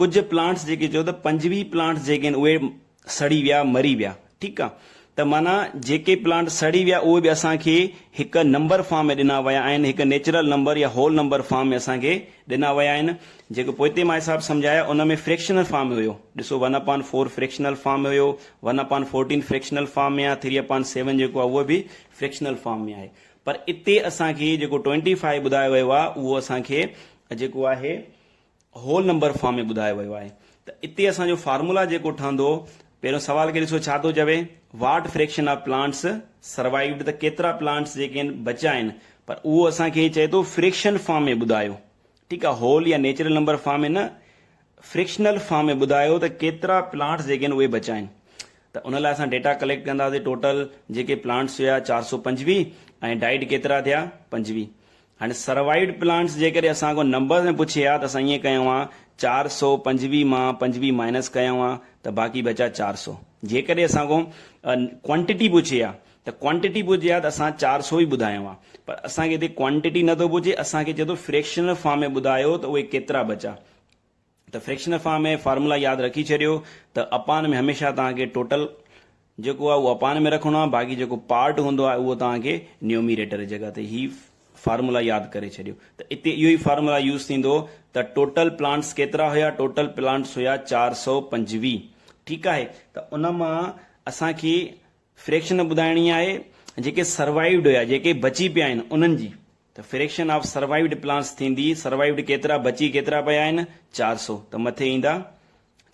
ڪجهه پلانٽس جيڪي چيو ته پنجويهه پلانٽس جيڪي آهن اهي سڙي ويا مري ويا ٺيڪ آ ته معنيٰ جيڪي پلانٽ سڙي ويا اهي به اسان کي هڪ نمبر فارم ۾ ڏنا ويا آهن هڪ نيچرل نمبر يا هول نمبر فارم ۾ اسان کي ڏنا ويا آهن جيڪو پوئتي مان حساب سمجهايا ان ۾ فريڪشنل فارم ۾ هيو ڏسو one upon four fractional form ۾ هيو one upon fourteen fractional form ۾ آ ٿري اپان سيون جيڪو آ اهو به فريڪشنل فارم ۾ آهي پر اتي اسان کي جيڪو ٽوئنٽي فائيو ٻڌايو ويو آ اهو اسان کي جيڪو آهي هول نمبر فارم ۾ ٻڌايو ويو آهي ته اتي اسان جو فارمولا جيڪو ٺهندو پهريون سوال کي ڏسو ڇا ٿو چوي what fraction of plants survived ته ڪيترا پلانٽس جيڪي آهن بچيا آهن پر اهو اسان کي چئي ٿو فريڪشن فارم ۾ ٻڌايو ٺيڪ آهي هول يا نيچرل نمبر فارم ۾ نه فريڪشنل فارم ۾ ٻڌايو ته ڪيترا پلانٽس جيڪي آهن اهي بچيا آهن ته ان لاء اسان ڊيٽا ڪليڪٽ ڪنداسي ٽوٽل جيڪي پلانٽس هيا چار سؤ پنجويهه ۽ ڊائيڊ ڪيترا ٿيا پنجويهه هاڻي سروائيڊ پلانٽس جيڪڏهن اسان کان نمبرز ۾ پڇي ها ته اسان ائين ڪيون ها چار سؤ پنجويهه مان پنجويهه مائنس ڪيون ها ته باقي بچا چار سؤ جيڪڏهن اسان کان ڪوانٽٽي پڇي ها ته ڪوانٽٽي پڇي ها ته اسان چار سؤ ئي ٻڌايون ها پر اسان کي هتي ڪوانٽٽي نه ٿو پڇي اسان کي چئي ٿو فريڪشنل فارم ۾ ٻڌايو ته اهي ڪيترا بچا ته فريڪشنل فارم ۾ فارمولا ياد رکي ڇڏيو ته اپان ۾ هميشه توهان کي ٽوٽل جيڪو آهي اهو اپان ۾ رکڻو آهي باقي جيڪو پارٽ هوندو آهي اهو توهان کي نيوميريٽر جي جڳهه تي هي فارمولا ياد ڪري ڇڏيو ته اتي اهو ئي فارمولا يوز ٿيندو ته ٽوٽل پلانٽس ڪيترا هيا ٽوٽل پلانٽس هيا چار سؤ پنجويهه ٺيڪ آهي ته ان مان اسان کي فريڪشن ٻڌائڻي آهي جيڪي سروائيوڊ هيا جيڪي بچي پيا آهن انهن جي ته فريڪشن آف سروائيوڊ پلانٽس ٿيندي، سروائيوڊ ڪيترا، بچي ڪيترا پيا آهن، چار سؤ، ته مٿي ايندا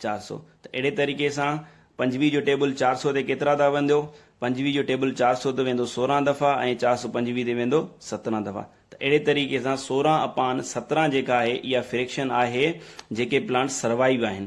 چار سؤ، ته اهڙي طريقي سان پنجويهه جو ٽيبل چار سؤ تي ڪيترا دفعا ويندو، پنجويهه جو ٽيبل چار سؤ تي ويندو سورهن دفعا ۽ چار سؤ پنجويهه تي ويندو سترهن دفعا، ته اهڙي طريقي سان سورهن اپان سترهن جيڪا آهي اها فريڪشن آهي جيڪي پلانٽس سروائيو آهن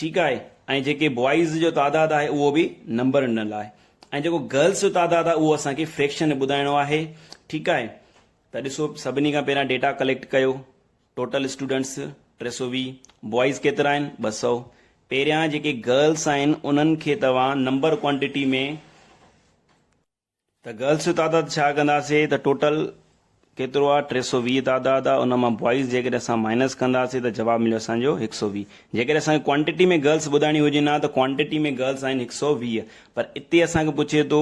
ٺيڪ آهي ۽ جيڪي بوائز جو تعداد آهي اهو به نمبر نه لاء ۽ جيڪو گرلس جو تعداد آهي اهو اسان کي فريڪشن ٻڌائڻو آهي ٺيڪ آهي ته ڏسو سڀني کان پهريان ڊيٽا ڪليڪٽ ڪيو ٽوٽل اسٽوڊنٽس ٽي سو ويهه بوائز ڪيترا آهن ٻه سؤ پهريان جيڪي گرلس آهن انهن کي توهان نمبر ڪوانٽيٽي ۾ ته گرلس جو تعداد ڇا ڪنداسي ته ٽوٽل ڪيترو آ ٽي سؤ ويهه تعداد آ ان مان بوائز جيڪڏهن اسان مائنس ڪنداسي ته جواب مليو اسان جو هڪ سؤ ويهه جيڪڏهن اسان کي ڪوانٽيٽي ۾ گرلس ٻڌائڻي هجن آ ته ڪوانٽيٽي ۾ گرلس آهن هڪ سؤ ويهه پر اتي اسان کي پڇي ٿو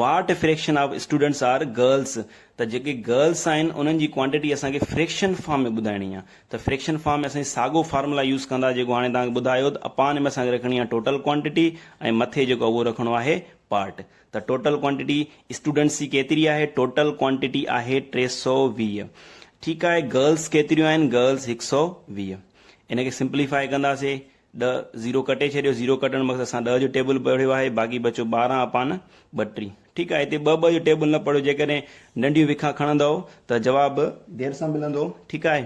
what fraction of students are girls ته جيڪي گرلس آهن انهن جي ڪوانٽيٽي اسان کي فريڪشن فارم ۾ ٻڌائڻي آ ته فريڪشن فارم ۾ اسان ساڳو فارمولا يوز ڪندا جيڪو هاڻي توهان کي ٻڌايو ته اپان ۾ اسان کي رکڻي آ ٽوٽل ڪوانٽيٽي ۽ مٿي جيڪو اهو رکڻو آهي پارٽ ته ٽوٽل ڪوانٽٽي اسٽوڊنٽس جي ڪيتري آهي؟ ٽوٽل ڪوانٽٽي آهي ٽي سؤ ويهه ٺيڪ آهي گرلس ڪيتريون آهن؟ گرلس هڪ سؤ ويهه ان کي سمپليفائي ڪنداسي ڏهه زيرو ڪٽي ڇڏيو زيرو ڪٽڻ مقصد سان ڏهه جو ٽيبل پڙهيو آهي باقي بچو ٻارهن اپان ٻٽيهه ٺيڪ آهي هتي ٻه ٻه جو ٽيبل نه پڙهيو جيڪڏهن ننڍيون وکا کڻندؤ ته جواب دير سان ملندو ٺيڪ آهي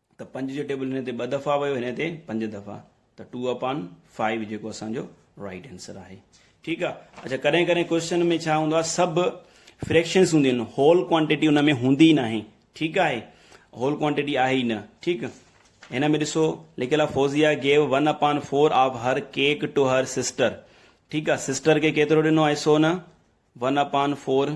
ته پنج جو ٽيبل هن تي ٻه دفعا ويو هن تي پنج دفعا ته ٽو اپان فائيو جيڪو اسان جو رائٽ آنسر آهي ٺيڪ آ اچھا ڪڏهن ڪڏهن ڪوشچن ۾ ڇا هوندو آهي سڀ فريڪشنس هونديون آهن هول ڪوانٽيٽي ان ۾ هوندي ئي ناهي ٺيڪ آهي هول ڪوانٽيٽي آهي ئي نه ٺيڪ هن ۾ ڏسو لکيل آهي Fauzia gave one upon four of her cake to her sister ٺيڪ آهي سسٽر کي ڪيترو ڏنو آهي سو نه ون اپان فور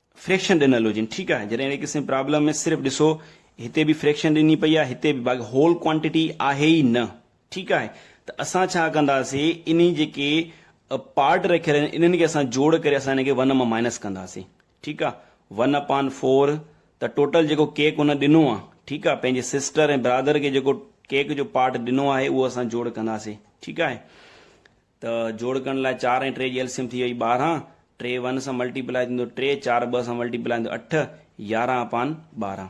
فريڪشن ڏنل هجن ٺيڪ آهي جڏهن اهڙي قسم جي پرابلم ۾ صرف ڏسو هتي به فريڪشن ڏني پئي آهي هتي به باقي هول ڪوانٽيٽي آهي ئي نه ٺيڪ آهي ته اسان ڇا ڪنداسي انهي جيڪي پارٽ رکيل آهن انهن کي اسان جوڙ ڪري اسان هن کي ون مان مائنس ڪنداسي ٺيڪ آهي ون اپان فور ته ٽوٽل جيڪو ڪيڪ هن ڏنو آهي ٺيڪ آهي پنهنجي سسٽر ۽ برادر کي جيڪو ڪيڪ جو پارٽ ڏنو آهي اهو اسان جوڙ ڪنداسي ٺيڪ آهي ته جوڙڪڻ لاء چار ۽ ٽي جي ايل سي ايم ٿي ويئي ٻارهن، ٽي ون سان ملٽي پلائي ٿيندو ٽي، چار ٻه سان ملٽي پلائي ٿيندو اٺ، يارهن اپان ٻارهن.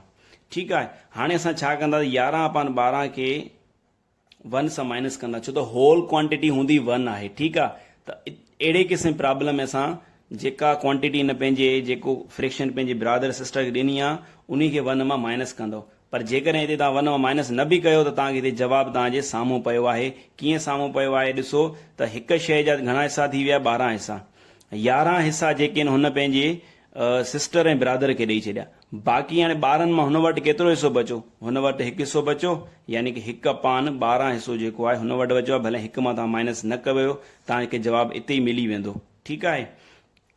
ٺيڪ آهي هاڻي اسان ڇا ڪنداسين يارهن اپان ٻارهن کي ون سان مائنس ڪنداسين ڇو ته هول ڪوانٽيٽي هوندي ون آهي ٺيڪ آهي ته اهڙي قسم جي پرابلم ۾ اسان جيڪا ڪوانٽيٽي هن پنهنجي جيڪو فريڪشن پنهنجي برادر سسٽر کي ڏني آهي انهي کي ون مان مائنس ڪندو پر جيڪڏهن هتي توهان ون اوور مائنس نه به ڪيو ته توهان کي هتي جواب توهان جي سامهون پيو آهي. ڪيئن سامهون پيو آهي ڏسو ته هڪ شيء جا گهڻا حصا ٿي ويا ٻارهن حصا. يارهن حصا جيڪي آهن هن پنهنجي سسٽر ۽ برادر کي ڏئي ڇڏيا. باقي هاڻي ٻارهن مان هن وٽ ڪيترو حصو بچو؟ هن وٽ هڪ حصو بچو يعني ڪه هڪ اپان ٻارهن حصو جيڪو آهي هن وٽ بچو آهي ڀلي هڪ مان توهان مائنس نه ڪيو توهان کي جواب اتي ئي ملي ويندو ٺيڪ آهي.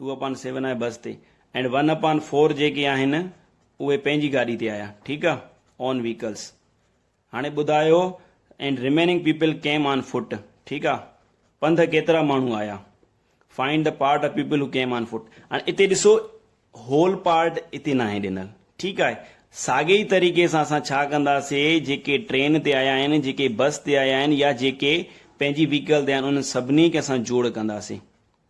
ٽو اپان سيون آهي بس تي ائنڊ ون اپان فور جيڪي آهن اهي پنهنجي گاڏي تي آيا ٺيڪ آ اون ويهڪلس هاڻي ٻڌايو ائنڊ ريميننگ پيپل ڪيم آن فوٽ ٺيڪ آ پنڌ ڪيترا ماڻهو آيا find the part of people who came on foot هاڻي اتي ڏسو هول پارٽ اتي ناهي ڏنل ٺيڪ آهي ساڳي ئي طريقي سان اسان ڇا ڪنداسي جيڪي ٽرين تي آيا آهن جيڪي بس تي آيا آهن يا جيڪي پنهنجي ويهڪل تي آهن انهن سڀني کي اسان جوڙ ڪنداسي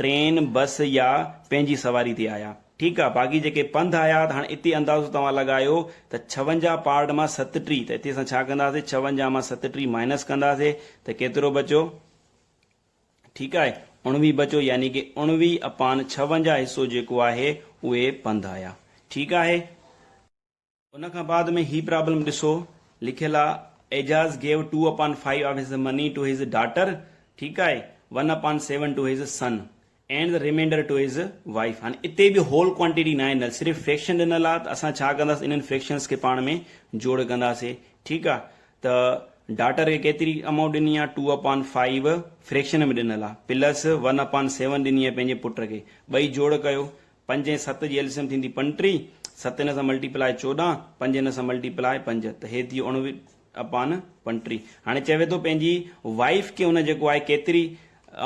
ٽرين، بس يا پنهنجي سواري تي آيا. ٺيڪ آ، باقي جيڪي پنڌ آيا ته هاڻ اتي اندازو توهان لڳايو ته ڇونجاهه پارٽ مان ستٽيهه ته اتي اسان ڇا ڪنداسي ڇونجاهه مان ستٽيهه مائنس ڪنداسي ته ڪيترو بچو؟ ٺيڪ آهي، اڻويهه بچو يعني ڪي اڻويهه اپان ڇونجاهه حصو جيڪو آهي اهي پنڌ آيا. ٺيڪ آهي. ان کان بعد ۾ هي پرابلم ڏسو لکيل آ Ejaz gave two upon five of his money to his daughter ٺيڪ آهي one upon seven to his son and the remainder to his wife هاڻي اتي به هول ڪوانٽيٽي ناهي ڏنل صرف فريڪشن ڏنل آ ته اسان ڇا ڪنداس انهن فريڪشنس کي پاڻ ۾ جوڙ ڪنداسي ٺيڪ آ ته ڊاٽر کي ڪيتري امائونٽ ڏني آ ٽو اپان فائيو فريڪشن ۾ ڏنل آ پلس ون اپان سيون ڏني آ پنهنجي پٽ کي ٻئي جوڙ ڪيو پنج ۽ ست جي ايل سي ايم ٿيندي پنٽيهه، ست ان سان ملٽي پلائي چوڏهن، پنج ان سان ملٽي پلائي پنج ته هي ٿي اڻويهه اپان پنٽيهه. هاڻي چوي ٿو پنهنجي وائيف کي هن جيڪو آهي ڪيتري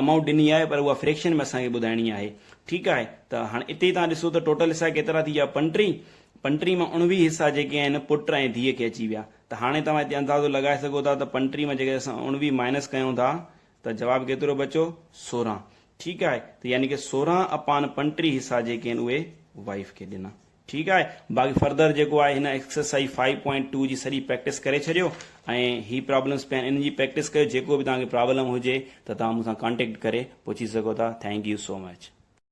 امائونٽ ڏني آهي پر اها فريڪشن ۾ اسان کي ٻڌائڻي آهي ٺيڪ آهي ته هاڻي اتي ئي توهان ڏسو ته ٽوٽل حصا ڪيترا ٿي ويا پنٽيهه، پنٽيهه مان اڻويهه حصا جيڪي آهن پٽ ۽ ڌيء کي اچي ويا ته هاڻي توهان اتي اندازو لڳائي سگهو ٿا ته پنٽيهه مان جيڪڏهن اسان اڻويهه مائنس ڪيون ٿا ته جواب ڪيترو بچو؟ سورهن. ٺيڪ آهي ته يعني ڪه سورهن اپان پنٽيهه حصا جيڪي آهن اهي وائيف کي ڏنا. ٺيڪ آهي باقي فردر جيڪو آهي هن ايڪسرسائيز فائيو پوائنٽ ٽو جي سڄي پريڪٽس ڪري ڇڏيو ۽ هي پرابلمس پيا آهن انهن جي پريڪٽس ڪيو جيڪو به توهان کي پرابلم هجي ته توهان مون سان ڪانٽيڪٽ ڪري پڇي سگهو ٿا ٿينڪ يو سو مچ.